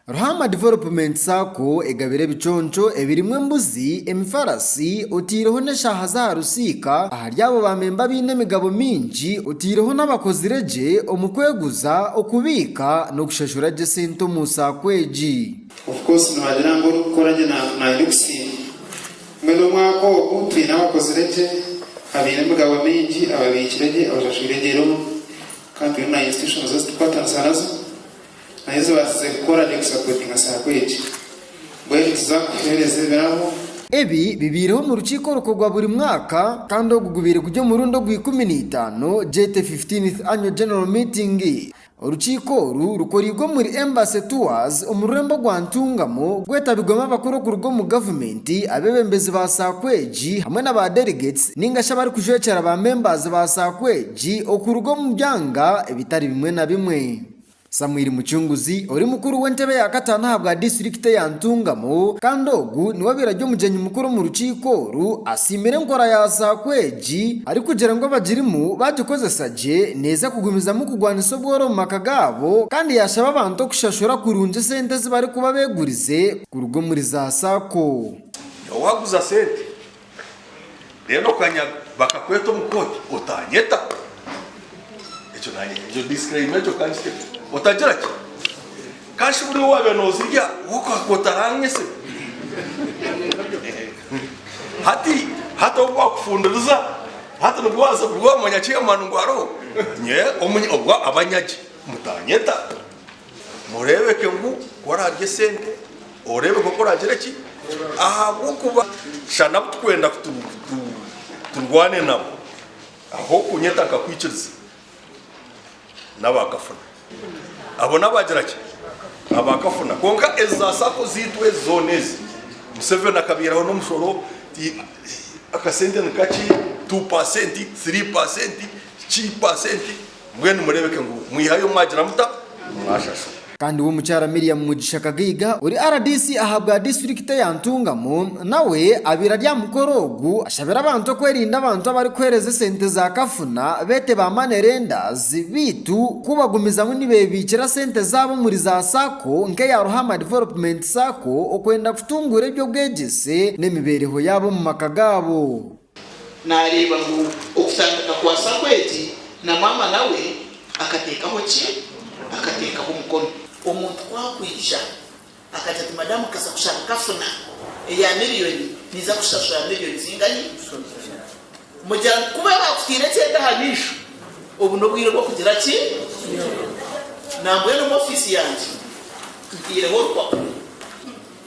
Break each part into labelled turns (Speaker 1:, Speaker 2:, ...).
Speaker 1: Ruhama Development Sacco egabire ebiconco ebirimu embuzi, emifarasi oteireho n'eshaaha z'aha rusiika ahari abo baamemba abaine emigabo mingi oteireho n'abakozire gye omu kweguza, okubiika n'okushashura gye sente omu Sacco egi. Of course
Speaker 2: noogira ngu orikukora gye naija okusiima. Mbwenu omwaka ogu twine abakozire gye, abaine emigabo mingi, ababiikire gye, abashashwire gye looni, Ka tureebe na institutions ezi turikukwatanisa nazo nahi ezibaasize kukora ready kusapootinga saako egi. Mbwenu nituza kuheereza ebirabo. Ebi bibaireho
Speaker 1: omu rukiiko orukuru rwa buri mwaka kandi ogu gubaire guri omurundi ogwa ikumi na itaano gyete Fifteenth Annual General Meeting. Orukiiko oru rukoreirwe omuri Embassy Tours omu rurembo rwa Ntungamo, gwetabirwemu abakuru okuruga omu Gavumenti, Ti abeebembezi ba saako egi hamwe na ba delegates ninga shi abarikujwekyera ba members ba saako egi okuruga omu byanga ebitari bimwe na bimwe. Samuel Mucunguzi ori mukuru w'entebe ya kataano aha bwa disiturikiti eya Ntungamo kandi ogu niwe obaire ari omugyenyi mukuru omu rukiiko oru asiimire enkora ya saako egi arikugira ngu abagirimu baagikozesa gye neeza kugumizamu kugwanisa obworo omu maka gaabo kandi yaashaba abantu okushashura kurungi esente ezi barikuba beegurize kuruga omuri za sacco. Nyowe waguza
Speaker 3: sente then okanyaga bakakweta omu kooti otanyeta ekyo nanye ekyo disclaimer ekyo kangitemu otagira ki kandi shi buriya owabire nozirya wokuha kooti aranyese hati hati obu bakufundiriza hati nibwo waza nibwo wamanya chairman ngu aroho nyowe omu obwo abanyagi mutanyeta. Mureebeke ngu ku oraarye esente oreebe nk'oku oraagire ki? Ahabw'okuba sha n'abu turikwenda ku turwane nabo, ah'okunyeta nkakwikiriza, n'abaakafuna. Abo n'abaagira ki? Abaakafuna. Kwonka ezi za sacco zaitu ezi zoona ezi, Museveni akabaihiraho n'omushoro, akasente ni kakye, two paasenti, three paasenti, ki paasenti. Mbwenu mureebeke ngu mwihayo obu mwagira muta? Obu mwashashura. Kandi we Mukyara
Speaker 1: Miriam Mugisha Kagaiga ori rdc aha bwa disiturikite ya Ntungamo nawe abaire ari aha mukoro ogu ashabira abantu okwerinda abantu abarikuheereza esente za kafuna beete ba money lenders beitu ku bagumizamu nibebiikira sente zaabo omuri za sacco nk'eya Ruhama Development Sacco okwenda kutunguura eby'obwegyese n'emibeereho yaabo omu maka gaabo. Naareeba
Speaker 4: ngu okutandika kwa Samueli na maama nawe akateekaho ki? Akateekaho omukono. Omuntu ku akwija akagira ati, Madamu nkaza kushanga kafuna eya miriyoni, ninza kushashura miriyoni zingahi? Mugira ngu kuba baakutaire ekyenda aha maisho, obu n'obwire bw'okugira ki? Nambwenu omu ofiisi yangye ntaireho orupapura.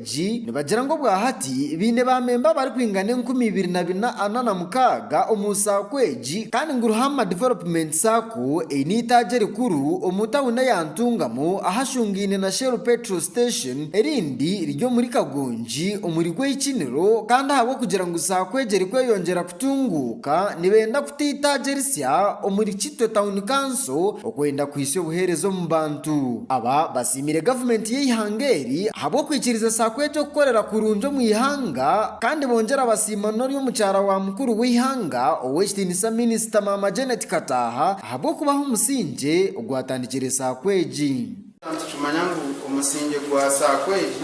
Speaker 1: Egi nibagira ngu obwahati baine baamemba abarikwingana enkumi ibiri na bina ana na mukaaga omu saako egi kandi ngu Ruhama Development Sacco eine eitaagi erikuru omu tauni eya Ntungamo ahashungaine na Shell Petrol Station erindi riri omuri Kagongi omuri Gwehikiniro kandi ahabw'okugira ngu saako egi erikweyongyera Tunguuka nibenda kutwitagirisya omuri Kitwe Town Council okwenda kuhitsya obuheereza omu bantu. Aba basiimire gavumenti y'eihanga eri ahabw'okwikiriza sacco egi okukorera kurungi omu ihanga kandi bongyera basiima n'ori omukyara wa mukuru w'eihanga ow'ekitiinisa minisita Maama Janet Kataaha ahabw'okubaho omusingye ogwatandikire sacco egi.
Speaker 2: Nitukimanya ngu omusingye gwa sacco egi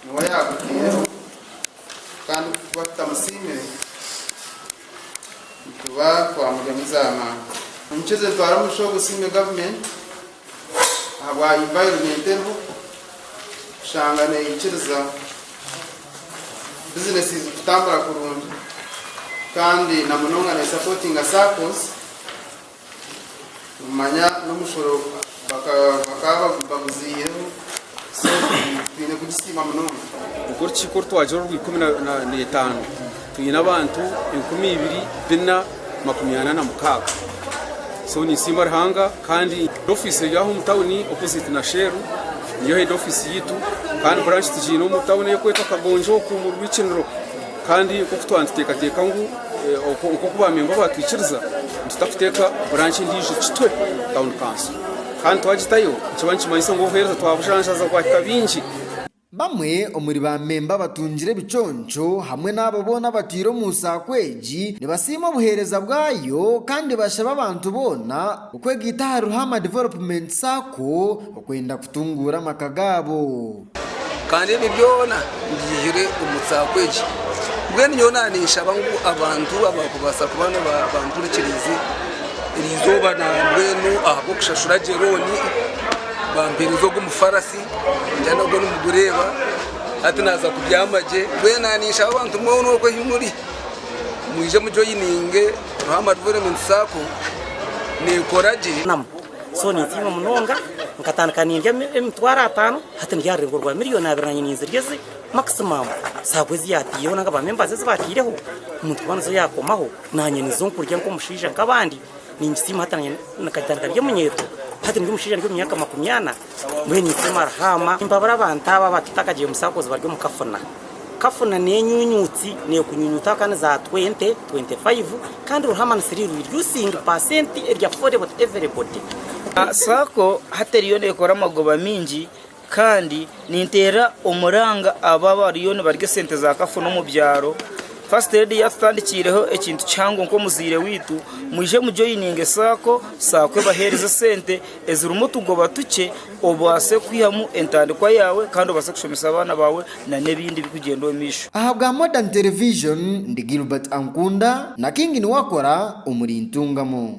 Speaker 2: niwe yaagutaireho. Kandi ku tuba tutamusiimire, nituba twamuryamu za manga. Omukyeze Ntwara Mugisha ogu osiime gavumenti ahabwa environment eriho kushanga neyikiriza businesses kutambura kurungi kandi na munonga nesapotinga saccos. Nimumanya n'omushoro bakaba baguziihireho sente twine kugisiima munonga. Nikwo ki ku
Speaker 5: orutwagira orw'ikumi na etaano twine abantu enkumi ibiri bina makumi ana na mukaaga. So ninsiima Ruhanga kandi head office eri aho omu tawuni opposite na Shell niyo head office yaitu kandi branch tugiine omu tawuni eyokwetwa Kagonjo oku omu Rwikiniro. Kandi nk'oku twaba nituteekateeka ngu nk'oku baamemba baatwikiriza, nitutakuteeka buranki endiijo Kitwe Town Council. Kandi twagitayo, nikiba nikimanyisa ngu obuheereza twabujanjaza bwahika bingi. Bamwe
Speaker 1: omuri baamemba abatungire ebiconco hamwe n'abo boona abatwire omu saako egi nibasiima obuheereza bwayo kandi bashaba abantu boona okwegaita ahari Ruhama Development Sacco okwenda kutunguura amaka gaabo. Kandi
Speaker 6: ebi byona mbihaire omu saako egi. Mbwenu nyowe naninshaba ngu abantu abarikubaasa kuba nibampurikiriize eri izooba mbwenu ahabw'okushashura gye looni bampeereze ogu omufarasi ningira nagwo nigureeba hati naaza kubyama gye. Mbwenu naninshaba abantu mwona oku ahi muri mwije mujoyininge Ruhama Development Sacco nekora gye. So
Speaker 7: nintiima munonga, nkatandika nindya emitwaro ataano hati ndya aha rurengo rwa miriyoni abiri naanye ninzirya ezi maximum saagwa ezi yaataireho nari ba members ezi baataireho omuntu kuba nizo yaakomaho naanye nizo nkurya nk'omushaija nk'abandi ningisiima hati naanye nkagitandika ndi omunyeeto hati ndi omushaija ndi omu myaka makumi ana. Mbwenu itwe Marhama mbabura abantu abo abatu takagire musakozi bari omu kafuna. Kafuna ni enyunyutsi nekunyunyutaho kandi za 20, 25 kandi Ruhama ni siri reducing percent eri affordable to everybody. Sacco
Speaker 8: hati eriyo nekora amagoba mingi kandi ninteera omuranga abo abariyo nibarya esente za kafuna omu byaro. First lady yatutandikiireho ekintu kihango nkomuzaire waitu mwije mu joininge sacco, sacco ebahereze esente. ezirimu otugoba tukye obaase kwihamu entandikwa yaawe kandi obaase kushomesa abaana baawe nana ebindi ebirikugyenda omu maisho. Aha bwa Modern
Speaker 1: Television ndi Gilbert Ankunda na King Niwakora omuri Ntungamo.